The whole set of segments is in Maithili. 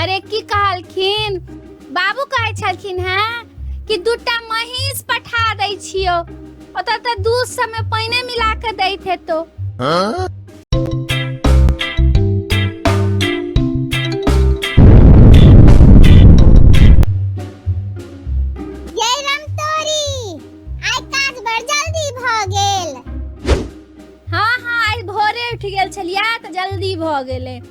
अरे की कहलखिन बाबू कहै छलखिन हेँ कि दूटा महींस पठा दै छियौ ओतऽ तऽ दूध सबमे पानिए मिला कऽ दैत हेतौ ये रमतोरी आइ काज बड़ जल्दी भ गेल हँ हँ आइ भोरे उठि गेल छलियै तऽ जल्दी भऽ गेलै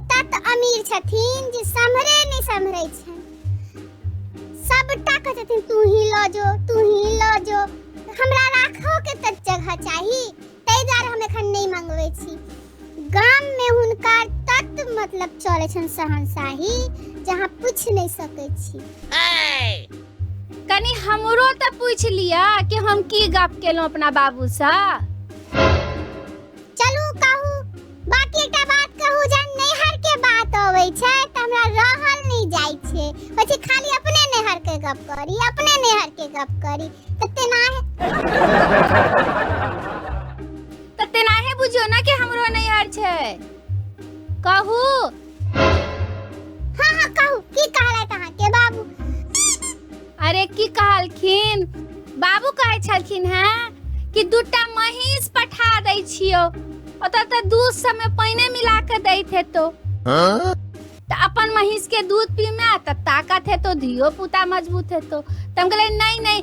एतऽ तऽ अमीर छथिन जे सम्हरे नहि सम्हरै छनि सबटा कहै छथिन तू ही लऽ जो तू ही लऽ जो हमरा राखो के तऽ जगह चाही ताहि दुआरे हम एखन नहि मंगबै छी गाम में हुनका तत मतलब चले छन सहनशाही जहाँ पूछ नहीं सके छी कनी हमरो तऽ पूछ लिया कि हम की गप केलहुँ अपना बाबूसँ बाकी एकटा बात कहू जे नैहर के बात अबै छै त हमरा रहल नै जाइ छै पछी खाली अपने नैहर के गप करी अपने नैहर के गप करी त तेना त तेना है बुझियो ना कि हमरो नैहर छै कहू हाँ हाँ कहू की कहला तहाँ के बाबू अरे की कहलखिन बाबू कहै छलखिन हैं कि दूटा महींस पठा दै छियो ओतऽ तऽ दूध सबमे पाइने मिला कऽ दैत हेतो तऽ अपन महींस के दूध पीमे तऽ ताकत हेतो धियो पुता मजबूत हेतो तऽ हम कहलियै नहि नहि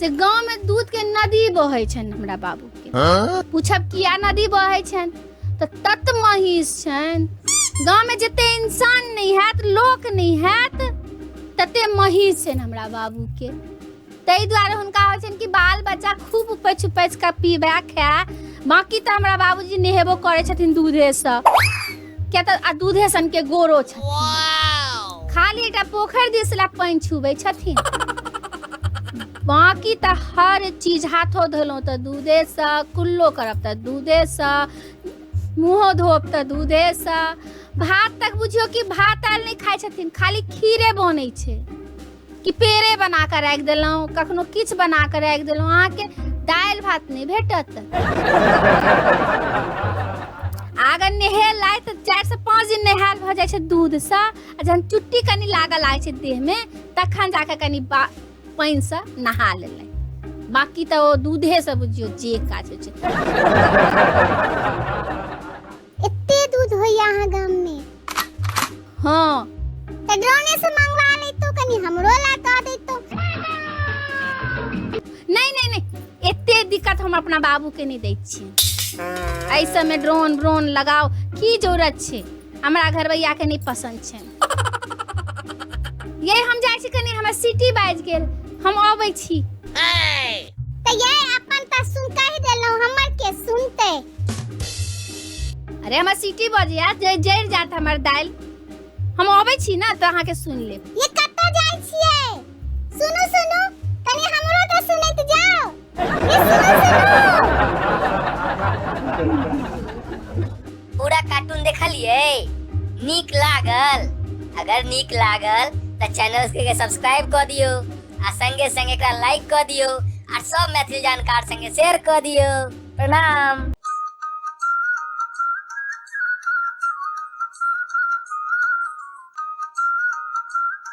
से गांव में दूध के नदी बहै छनि हमरा बाबू के पूछब किया नदी बहै छनि तऽ तत महीस छनि गांव में जते इंसान नहि हैत लोक नहि हैत तते महीस छनि हमरा बाबू के ताहि दुआरे हुनका होइ छनि कि बाल बच्चा खूब उपैछ उपैछ कऽ पीबए खाए बाँकी तऽ हमरा बाबूजी नहेबो करै छथिन दूधेसँ किया तऽ आ दूधे सन के गोरो छथिन खाली एकटा पोखरि दिस लए पानि छुबै छथिन बाकी तऽ हर चीज हाथो धोलहुँ तऽ दूधेसँ कुल्लो करब तऽ दूधेसँ मुँहो धोब तऽ दूधेसँ भात तक बुझियौ कि भात आयल नहि खाइ छथिन खाली खीरे बनै छै कि पेड़े बना कऽ राखि देलहुँ कखनो किछु बना कऽ राखि देलहुँ अहाँके दालि भात नहि भेटत अगर नहेलाइ तऽ चारिसँ पाँच दिन नहायल भऽ जाइ छै दूधसँ आ जहन चुट्टी कनि लागऽ लागै छै देहमे तखन जाकऽ कनि बा पानिसँ नहा लेलै बाकी तऽ ओ दूधेसँ बुझियौ जे काज होइ छै एते दूध होइया अहाँ गाम में हाँ तऽ ड्रोने से मंगवा लैतो कनी हमरो ला कह दैतो नहीं नहीं नहीं एते दिक्कत हम अपना बाबू के नहीं दै छियै एहि सबमे ड्रोन ब्रोन लगाओ की जरूरत छै हमरा घरवैया के नहीं पसंद छै ये हम जाइ छी कनी हमरा सिटी बाज गेल हम अबै छी तऽ ये अपन तऽ सुन कहि देलहुँ हमर के सुनते अरे हमरा सिटी बज यार जे जरि जात हमर दाल हम अबै छी ना तऽ अहाँके सुन लेब ये कतऽ जाइ छियै सुनू सुनू कनी हमरो तऽ सुनैत जाओ पूरा कार्टून देखलिए नीक लागल अगर नीक लागल तो चैनल के सब्सक्राइब कर दियो आ संगे संगे एकरा लाइक कर दियो आ सब मैथिली जानकार संगे शेयर कर दियो प्रणाम